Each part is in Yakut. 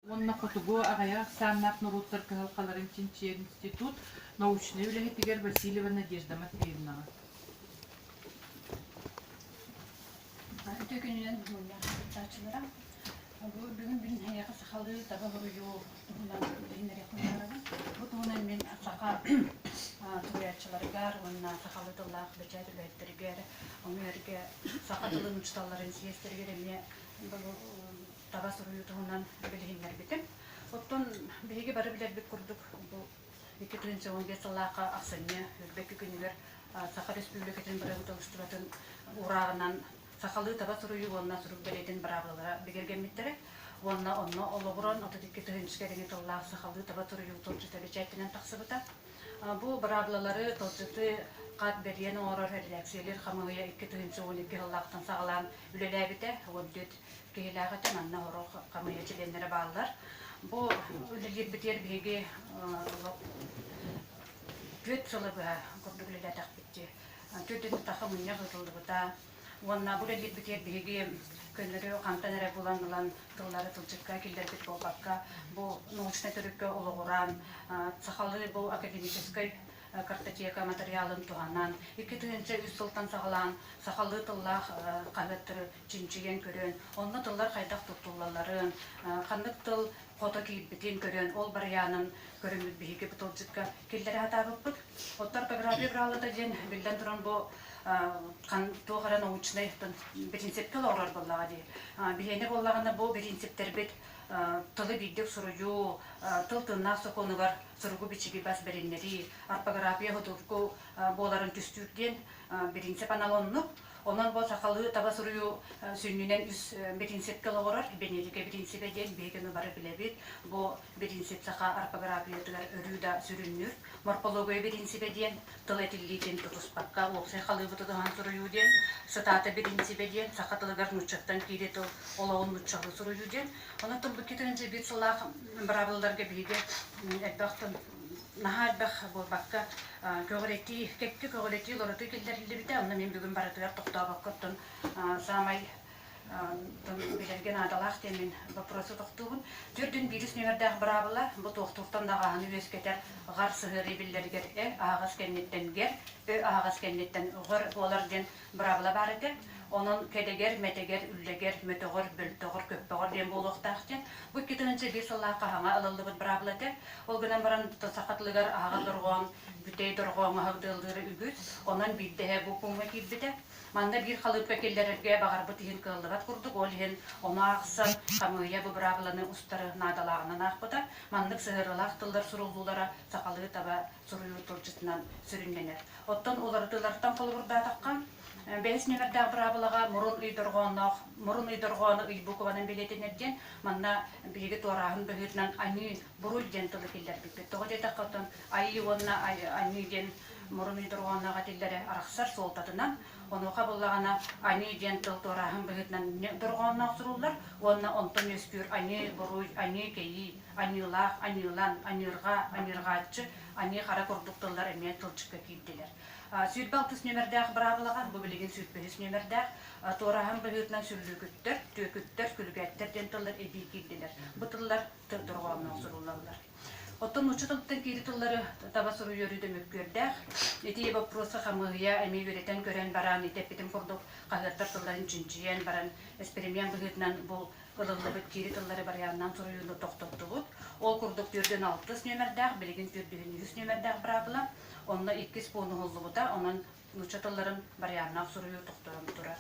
уонна хотугу аҕыйах ахсааннаах норуоттар кыһалҕаларын чинчийэр институт научнай үлэһитигэр Васильева Надежда Матвеевнаҕа. Үтүө күнүнэн дьулуйаах кыттааччылара! Бу бүгүн бүгүн эһиэхэ сахалыы таба хоруйу туһунан үлэһиннэриэх быһаарабын. Бу туһунан мин саха суруйааччыларыгар уонна сахалыы тыллаах бэчээт үлэһиттэригэр, ону эргэ саха тылын учууталларын сиэстэригэр эмиэ таба суруйуу туһунан билиһиннэрбитим. Оттон биһиги бары билэрбит курдук, бу икки тыһыынча уон биэс сыллаахха ахсынньы үрдэки күнүгэр Саха Республикатын бырабыыталыстыбатын уурааҕынан сахалыы таба суруйуу уонна сурук бэлиэтин быраабылалара бигэргэммиттэрэ уонна онно олоҕуран отут икки тыһыынча кэриҥэ тыллаах сахалыы таба суруйуу туолдьута бэчээттэнэн тахсыбыта. Бу быраабылалары туолдьуту хат бэлиэн оҥорор эрэдээксийэлэр хамыыһыйа икки тыһыынча уон икки сыллаахтан саҕалаан үлэлээбитэ, отдет киһилээҕитэ манна оҕо хамыыһа чилиэннэрэ бааллар. Бу үлэлиирбитигэр биһиги түөрт сыла быһа курдук үлэлээтэхпит дии. Түөрт ыннытахха мунньах ыытыллыбыта уонна бу үлэлиирбитигэр биһиги көннөрү хантан эрэ булан ылан тыллары тылдьыкка киллэрбит буолбакка, бу научнай төрүккэ олоҕуран, сахалыы бу академическай картотека матырыйаалын туһанан, икки тыһыынча үс сылтан саҕалаан сахалыы тыллаах хаһыаттары чинчийэн көрөн, онно тыллар хайдах туттуллалларын, ханнык тыл хото киирбитин көрөн, ол барыйаанын көрүммүт биһиги бу тылдьыкка киллэрэ сатаабыппыт. Оттор топография быралата диэн, биллэн туран бу туох эрэ научнай принципке олоҕурар буоллаҕа дии. Биһиэнэ буоллаҕына бу принциптэрбит тылы биирдик суруйуу, тыл тыыннаах сокуонугар суругу-бичиги бас бэриннэрии, орфография судургу буоларын түстүүр диэн принцип анал оннук. Онон бу сахалыы таба суруйуу сүнньүнэн үс биринсипкэ олоҕурар. Бэнедика биринсибэ диэн биһигини бары билэбит. Бу биринсип саха орфографиятыгар өрүү да сүрүннүүр. Морфология биринсибэ диэн тыл этиллиитин тутуспакка уопсай халыыбы тутуһан суруйуу диэн, сытаата биринсибэ диэн саха тылыгар нууччаттан киирии тыл олоҕун нууччалыы суруйуу диэн. Онон тылбыт киһитин дьэбиир сылаах быраабылларга биһиги элбэх тыл наһаа элбэх буолбакка, көҕүрэтии, кэккэ көҕүрэтии олоротуу киллэриллибитэ. Онно мин бүгүн барытыгар тохтообокко оттон саамай билэргэ наадалаах диэмин боппуруоса тохтуубун. Төрдүн биирис нүөмэрдээх быраабыла бу туохтууртан даҕааһыны үөскэтэр гар сыһыарыы биллэригэр ө аһаҕас кэнниттэн гэр, ө аһаҕас кэнниттэн гыр буолар диэн Быраабыла баар этэ, онон кэдэгэр-мэтэгэр, үллэгэр, мөтөҕөр, бөлтөҕөр, көппөҕөр диэн буолуохтаах диэн. Бу икки тыһыынча биэс сыллаахха хаһаҥа ылыллыбыт быраабыла этэ. Ол гынан баран, саха тылыгар аһаҕас дорҕоон, бүтэй дорҕооҥ аһылыгы ылыыра үгүс, онон биирдэ эһэ бу пууҥҥа киирбитэ. Манна биир халыыпка киллэрэргэ баҕарбыт иһин кыаллыбат курдук, ол иһин ону аахсар хамыыйа бу быраабыланы устары наадалааҕынан аахпыта. Маннык сыһыарыылаах тыллар суруллуулара сахалыы таба суруйуу тылдьытынан сүрүннэнэр. Оттон уларытыылартан холобурдаатахха, бэһис нүөмэрдээх быраабылаҕа мурун ый дорҕоонноох Мурун ый дорҕооно ый букванан бэлиэтэнэр диэн, манна биһиги туорааһын быһыытынан аньыы, буруй диэн тылы киллэрбиппит. Тоҕо диэтэххэ, оттон айыы уонна аньыы диэн мурун ый дорҕоонноох этиллэрэ арахсар суолтатынан, онуоха буллаҕына аньыы диэн тыл туорааһын быһыытынан дорҕоонноох суруллар уонна онтон үөскүүр аньыы, буруй, аньыы, кэйии, Аньыылаах аньыылан, аньыырҕа аньыырҕааччы, аньыы-хара курдук тыллар эмиэ тылдьыкка киирдилэр. Сүүрбэ алтыс нүөмэрдээх быраабылаҕа, бу билигин сүүрбэ үс нүөмэрдээх, туораһан быһыытынан сүллүүкүттэр, түөкүттэр, күлүкээттэр диэн тыллар эбии киирдилэр. Бу тыллар дорҕооҥноох суруллаллар. Оттон нуучча тылыттан киирии тыллары таба суруйуоруу да мөккүөрдээх. Ити боппуруоска хамыыһыйа эмиэ үөрэтэн көрөн баран, ити эппитим курдук, хаһыаттар тылларын чинчийэн баран, эспэримиэн быһыытынан бу ылыллыбыт киири тыллары барыйааннаан суруйууну тохтоттубут. Ол курдук түөртүн алтыс нүөмэрдээх, билигин түөртүһүн үһүс нүөмэрдээх быраабыла, онно иккис пуун уһуллубута, онон нуучча тылларын барыйааннаах суруйуу тохтонон турар.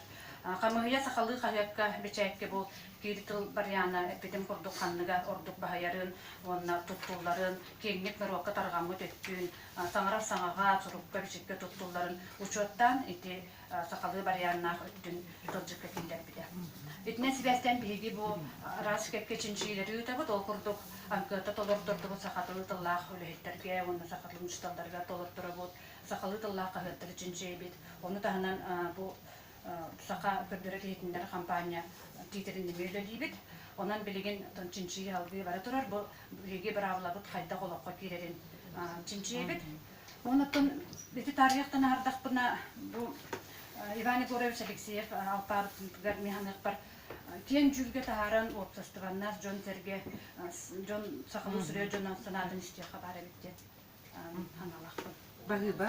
Хамыыһыйа сахалыы хаһыакка, бэчээккэ бу киири тыл барыйаана эппитим курдук ханныга ордук баһыйарын уонна туттулларын, киэҥник норуокка тарҕаммыт өттүн, саҥарар саҥаҕа, сурукка-бичиккэ туттулларын учуоттаан ити сахалыы барыйааннаах үрдүн тылдьыкка киллэрбитэ. Итинэн сибээстэн биһиги бу араас кэккэ чинчийилэри ыытабыт, ол курдук ангыата толортордубут саха тылы тыллаах үлэһиттэргэ уонна саха тылын учууталларыгар толорторобут, сахалыы тыллаах хаһыаттары чинчийэбит. Ону таһынан бу саха көрдөрөр иһитиннэр хампаанньа тиитэрин нөҥүө үлэлиибит. Онон билигин чинчийии аһылгыы бара турар. Бу биһиги быраабылабыт хайдах олоххо киирэрин чинчийэбит. Онтон ити таарыйахтан аһардахпына бу Иван Егорович Алексеев алпаабытыгар механыахпар киэн дьүүлгэ таһааран уопсастыбаннас дьон-сэргэ дьон сахалыы суруйар дьон санаатын истиэххэ баар эбит диэн санаалаахпын. Баһыыба.